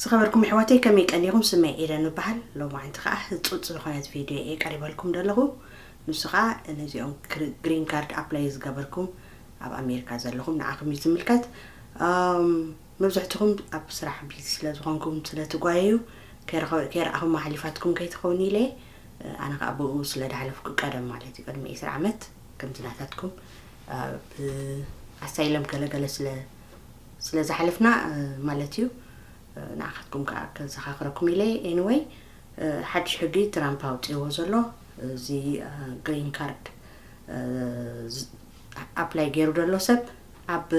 ዝኸበርኩም ኣሕዋተይ ከመይ ቀኒኹም ስመይ ኤደን እበሃል ሎማዓንቲ ከዓ ህፁፅ ዝኾነት ቪድዮ እየ ቀሪበልኩም ዘለኹ ንሱ ከዓ ነዚኦም ግሪን ካርድ ኣፕላይ ዝገበርኩም ኣብ ኣሜሪካ ዘለኹም ንዓኹም እዩ ዝምልከት መብዛሕትኹም ኣብ ስራሕ ቢዚ ስለ ዝኾንኩም ስለ ትጓየዩ ከይረኣኹም ኣሕሊፋትኩም ከይትኾኑ ኢለ ኣነ ከኣ ብኡ ስለ ዳሕለፍኩ ቀደም ማለት እዩ ቅድሚ ዕስራ ዓመት ከምዚ ናታትኩም ብ ኣሳይለም ገለገለ ስለ ስለ ዝሓለፍና ማለት እዩ ንኣኻትኩም ከኣ ከዘኻኽረኩም ኢለ ኤኒወይ ሓድሽ ሕጊ ትራምፕ ኣውጺዎ ዘሎ እዚ ግሪን ካርድ ኣፕላይ ገይሩ ዘሎ ሰብ ኣብ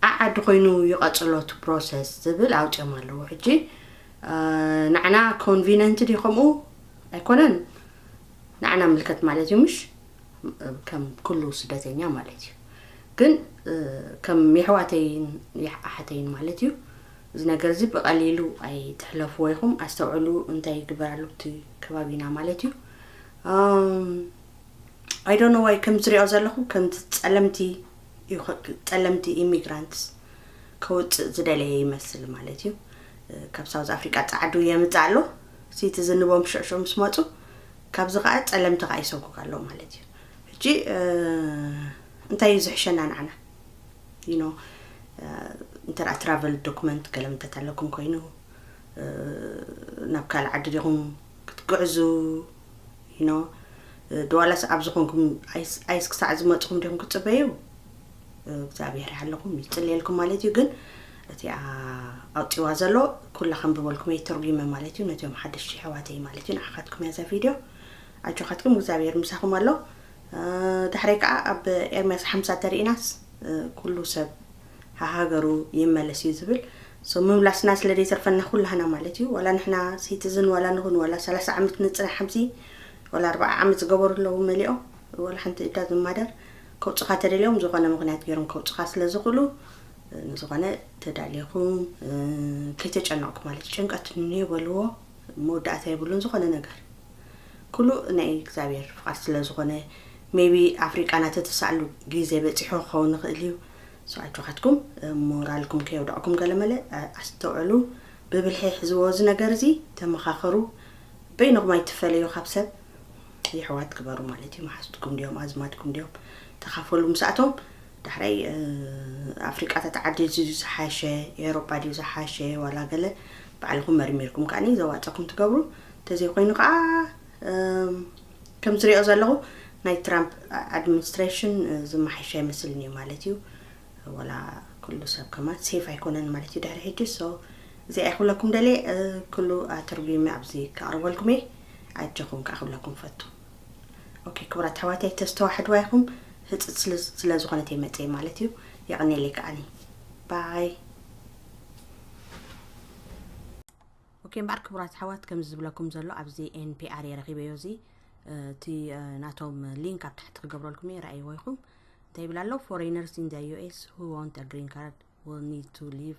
ዓዓዲ ኮይኑ ይቐጽሎ እቲ ፕሮሰስ ዝብል ኣውጺኦም ኣለዉ ሕጂ ናዕና ኮንቪነንት ድዩ ከምኡ ኣይኮነን ናዕና ምልከት ማለት እዩ ምሽ ከም ኩሉ ስደተኛ ማለት እዩ ግን ከም የሕዋተይን ኣሓተይን ማለት እዩ እዚ ነገር እዚ ብቐሊሉ ኣይትሕለፍዎ ኢኹም ኣስተውዕሉ እንታይ ይግበር ኣሎ እቲ ከባቢና ማለት እዩ ኣይዶኖ ዋይ ከም ዝሪኦ ዘለኹ ከምቲ ፀለምቲ ዩ ጸለምቲ ኢሚግራንትስ ከውጽእ ዝደለየ ይመስል ማለት እዩ ካብ ሳውዝ ኣፍሪቃ ጻዕዱ የምጽእ ኣሎ ሲቲ ዝንቦም ሽዕሽዑ ምስ መጹ ካብዚ ከዓ ጸለምቲ ከዓ ይሰጉግ ኣሎ ማለት እዩ ሕጂ እንታይ እዩ ዝሕሸና ንዓና ዩኖ እንተ ትራቨል ዶክመንት ገለ ምንተት ኣለኩም ኮይኑ ናብ ካልእ ዓዲ ዲኹም ክትግዕዙ you know ድዋላስ ኣብዚ ኮንኩም ኣይስ ክሳዕ ዝመጽኹም ዲኹም ክትጽበዩ እግዚኣብሔር ይሓለኹም ይጽልየልኩም ማለት እዩ ግን እቲኣ ኣውፂዋ ዘሎ ኩላ ከንብበልኩም እየ ተርጒመ ማለት እዩ ነቶም ሓደሽቲ ኣሕዋተይ ማለት እዩ ንዓኻትኩም እያ እዛ ቪድዮ ኣጆኻትኩም እግዚኣብሔር ምሳኹም ኣሎ ዳሕረይ ከዓ ኣብ ኤርምያስ ሓምሳ ተርእናስ ኩሉ ሰብ ሃሃገሩ ይመለስ እዩ ዝብል so ምምላስና ስለ ዘይተርፈና ኩላህና ማለት እዩ ዋላ ንሕና ሲትዝን ዋላ ንኹን ዋላ ሰላሳ ዓመት ንጽናሕ ኣብዚ ዋላ ኣርባዓ ዓመት ዝገበሩ ኣለዉ መሊኦም ዋላ ሓንቲ it doesn't matter ከውጽኻ ተደልዮም ዝኾነ ምኽንያት ገይሮም ከውጽኻ ስለ ዝኽእሉ ንዝኾነ ተዳሊኹም ከይተጨነቕኩ ማለት እዩ ጭንቀት እኒዮ በልዎ መወዳእታ የብሉን ዝኾነ ነገር ኩሉ ናይ እግዚኣብሔር ፍቓድ ስለ ዝኾነ ሜቢ ኣፍሪቃና ተተሳእሉ ግዜ በጺሑ ክኸውን ይኽእል እዩ so ኣጆኻትኩም ሞራልኩም ከየውደቕኩም ገለመለ ኣስተውዕሉ ብብልሒ ሕዝዎ እዚ ነገር እዚ ተመኻኸሩ በይንኹም ኣይትፈለዩ ካብ ሰብ የሕዋት ግበሩ ማለት እዩ መሓዝትኩም ድዮም ኣዝማድኩም ድዮም ተኻፈሉ ምስኣቶም ዳሕራይ ኣፍሪቃታት ዓዲ እዚ ዝሓሸ ኤሮጳ ድዩ ዝሓሸ ዋላ ገለ ባዕልኹም መርሚርኩም ከዓኒ ዘዋፀኩም ትገብሩ እንተዘይኮይኑ ከዓ ከም ዝሪኦ ዘለኹ ናይ ትራምፕ ኣድሚኒስትሬሽን ዝመሓየሸ ኣይመስልን እዩ ማለት እዩ ወላ ኩሉ ሰብ ከማን ሴፍ ኣይኮነን ማለት እዩ ድሕሪ ሕጂ ሶ እዚኣ ክብለኩም ደልየ ኩሉ ኣተርጒመ ኣብዚ ከቕርበልኩም እየ ኣጀኹም ከዓ ክብለኩም ፈቱ ኦኬ ክቡራት ኣሕዋተይ ተስተዋሕድዋ ኢኹም ህፅፅ ስለ ዝኾነት እየ መፅየ ማለት እዩ የቐኔለይ ከዓኒ ባይ ኦኬ እምበኣር ክቡራት ኣሕዋት ከምዚ ዝብለኩም ዘሎ ኣብዚ ኤንፒኣር እየ ረኺበዮ እዚ እቲ ናቶም ሊንክ ኣብ ታሕቲ ክገብረልኩም እየ ረኣይዎ ይኹም እንታይ ይብል ኣሎ ፎሬነርስ ኢን ዘ ዩኤስ ሁ ዋንት አ ግሪን ካርድ ዊል ኒድ ቱ ሊቭ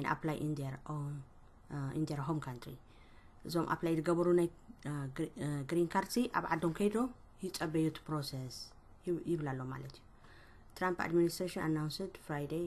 ን ኣፕላይ ኢን ር ኦን ኢን ር ሆም ካንትሪ እዞም ኣፕላይ ዝገበሩ ናይ ግሪን ካርድ ሲ ኣብ ዓዶም ከይዶ ይፀበዩ እቲ ፕሮሰስ ይብል ኣሎ ማለት እዩ ትራምፕ ኣድሚኒስትሬሽን ኣናውንስድ ፍራይደይ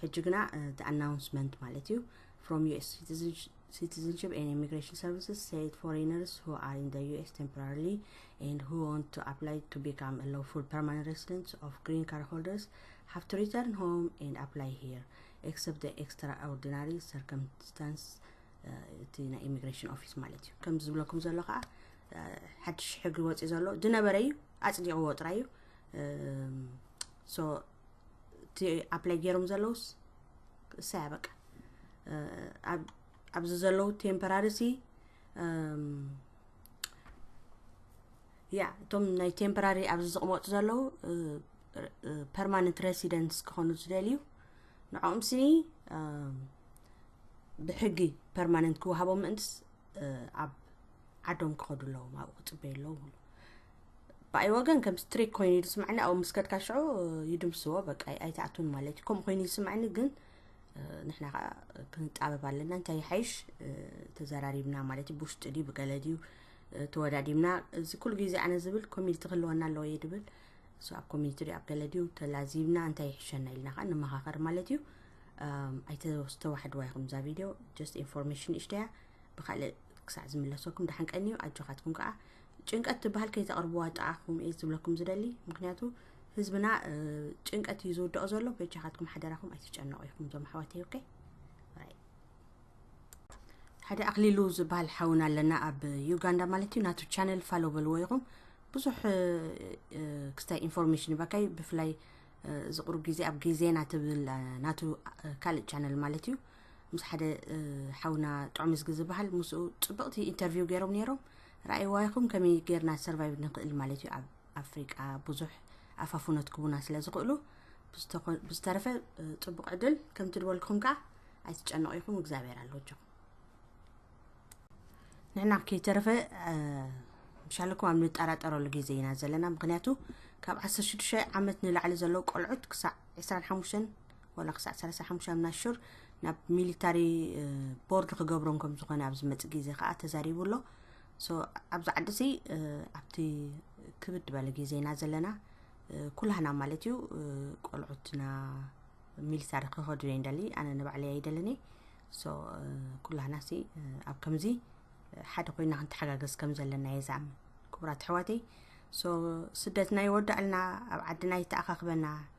ሕጂ ግና እቲ ኣናውንስመንት ማለት እዩ ፍሮም ዩኤስ ሲቲዝንሽፕ ን ኢሚግሬሽን ሰርቪስስ ሴት ፎሬነርስ ሁ ኣር ኢን ዩኤስ ቴምፖራሪሊ ን ሁ ወንት ቱ ኣፕላይ ቱ ቢካም ሎፉል ፐርማነንት ሬሲደንት ኦፍ ግሪን ካር ሆልደርስ ሃቭ ቱ ሪተርን ሆም ን ኣፕላይ ሂር ኤክሰፕት ኤክስትራ ኦርዲናሪ ሰርከምስታንስ እቲ ናይ ኢሚግሬሽን ኦፊስ ማለት እዩ ከምዚ ዝብለኩም ዘሎ ከዓ ሓድሽ ሕጊ ወፂ ዘሎ ዝነበረ እዩ ኣፅዲቕዎ ጥራይ እዩ እቲ ኣፕላይ ገይሮም ዘለውስ እሰያ በቃ ኣብዚ ዘለው ቴምፐራሪ ሲ ያ እቶም ናይ ቴምፐራሪ ኣብዚ ዝቕመጡ ዘለው ፐርማነንት ሬሲደንስ ክኾኑ ዝደልዩ ንዕኦም ስኒ ብሕጊ ፐርማነንት ክወሃቦም ምእንትስ ኣብ ዓዶም ክኸዱ ኣለዎም ኣብኡ ክፅበዩ ኣለዎም ብኣይ ወገን ከም ስትሪክ ኮይኑ እዩ ዝስማዕኒ ኣብኡ ምስ ከድካ ሽዑ ይድምስዎ በቃ ኣይትኣቱን ማለት እዩ ከምኡ ኮይኑ ይስማዕኒ ግን ንሕና ከዓ ክንጣበብ ኣለና እንታይ ይሓይሽ ተዘራሪብና ማለት እዩ ብውሽጢ ድዩ ብገለ ድዩ ተወዳዲብና እዚ ኩሉ ግዜ ኣነ ዝብል ኮሚኒቲ ክህልወና ኣለዎ እየ ድብል እሱ ኣብ ኮሚኒቲ ድዩ ኣብ ገለ ድዩ ተላዚብና እንታይ ይሕሸና ኢልና ከዓ ንመኻኸር ማለት እዩ ኣይተዋሕድዋ ይኹም እዛ ቪድዮ ጀስት ኢንፎርሜሽን እሽተያ ብካልእ ክሳዕ ዝምለሰኩም ደሓን ቀንዩ ኣጆኻትኩም ከዓ ጭንቀት ትበሃል ከይተቕርብዋ ጥዓኹም እየ ዝብለኩም ዝደሊ ምክንያቱ ህዝብና ጭንቀት እዩ ዝውደኦ ዘሎ በጃኻትኩም ሓደራኹም ኣይትጨነቑ ኢኹም ዞም ኣሕዋት ኦኬ ሓደ ኣክሊሉ ዝበሃል ሓውና ኣለና ኣብ ዩጋንዳ ማለት እዩ ናቱ ቻነል ፋሎ በልዎ ኢኹም ብዙሕ ክስታይ ኢንፎርሜሽን ይበካይ ብፍላይ ዝቕሩ ግዜ ኣብ ግዜና ትብል ናቱ ካልእ ቻነል ማለት እዩ ምስ ሓደ ሓውና ጥዑምዝጊ ዝበሃል ምስኡ ፅብቕቲ ኢንተርቪው ገይሮም ነይሮም ራኢዋይኹም ከመይ ገርና ሰርቫይቭ ንኽእል ማለት እዩ ኣብ ኣፍሪቃ ብዙሕ ኣፋፉነት ክቡና ስለ ዝኽእሉ ብዝተረፈ ፅቡቅ ዕድል ከምቲ ድበልኩም ከዓ ኣይትጨነቁ ኢኹም እግዚኣብሔር ኣሎጆኹም ንሕና ከይተረፈ ምሻለኩም ኣብ ንጠራጠረሉ ግዜ ኢና ዘለና ምክንያቱ ካብ 16 ዓመት ንላዕሊ ዘለዉ ቆልዑት ክሳዕ 25 ዋላ ክሳዕ ሰላሳ ሓሙሻ ምናሹር ናብ ሚሊታሪ ቦርድ ክገብሮም ከም ዝኾነ ኣብ ዝመፅ ግዜ ከዓ ተዛሪቡ ኣሎ ኣብዚ ዓዲ እዚ ኣብቲ ክብድ በለ ግዜና ዘለና ኩላህና ማለት እዩ ቆልዑትና ሚሊታሪ ክኸዱ እየ ንደሊ ኣነ ንባዕለይ ኣይደልን እየ ሶ ኩላህና ሲ ኣብ ከምዚ ሓደ ኮይና ክንተሓጋገዝ ከም ዘለና እየ ዝኣምን ክቡራት ኣሕዋተይ ሶ ስደትና ይወዳእልና ኣብ ዓድና ይተኣኻኽበና